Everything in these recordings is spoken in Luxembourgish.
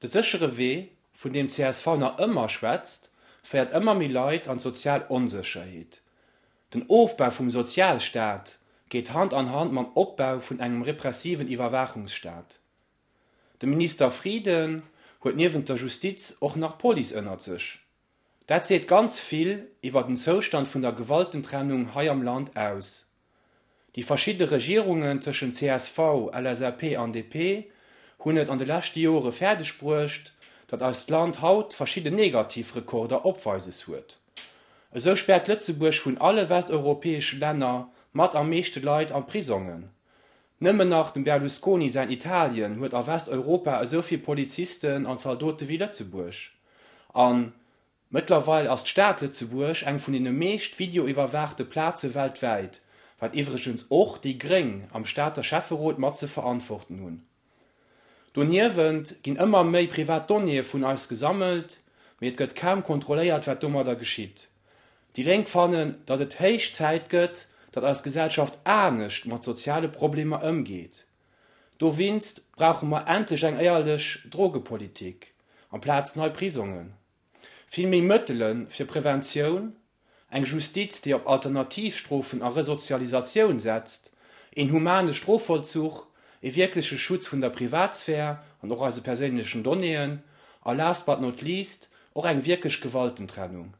De séchere Wee, vun deem csv nach ëmmer schwätzt, féiert ëmmer méi Leit an d'sozial Onsécherheet. Den Ofbau vum Sozialstaat geet Hand an Hand mam Opbau vun engem repressiven Iwwerwaachungsstaat. De Minister Frieden huet niewent der Justiz och nach d'Police ënnert sech. Dat seet ganz vill iwwer den Zoustand vun der Gewaltentrennung hei am Land aus. Déi verschidde Regierungen tëschent csv, LSAP an DP hunn et an de leschte Jore fäerdeg bruecht, datt eist Land haut verschidde negativ Rekorder opweises huet. Esou späert Lëtzebuerg vun alle westeuropäesche Länner mat am meeschte Leit an d'Prisongen. Nëmmen nach dem Berlusconi säin Italien huet a Westeuropa esou vill Polizisten an Zaldote wéi Lëtzebuerg. A mëttlerweil ass d'Stad Lëtzebuerg eng vun den meescht videoiwwerwaachte Plaze weltwäit, wat iwwregens och déi Gréng am Stater Schäfferot mat ze verantworten hunn. Doniewent ginn ëmmer méi privat Donnéeë vun eis gesammelt, mee et gëtt kaum kontrolléiert, wat domadder geschitt. Déi Lénk fannen, datt et héich Zäit gëtt, datt eis Gesellschaft anescht mat soziale Problemer ëmgeet. Dowinst brauche mer endlech eng éierlech Drogepolitik, amplaz nei Prisongen. Vill méi Mëttele fir Preventioun, eng Justiz, déi op Alternativstrofen a Resozialisatioun setzt, een humane Strofvollzuch, ee wierkleche Schutz vun der Privatsphär an och eise perséinlechen Donnéeën a, last but not least, och eng wierklech Gewaltentrennung.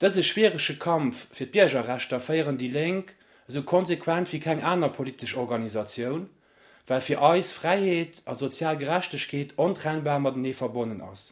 Dëse schwierege Kampf fir d'Biergerrechter féieren déi Lénk esou konsequent wéi keng aner politesch Organisatioun, well fir eis Fräiheet a sozial Gerechtegkeet ontrennbar matenee verbonnen ass.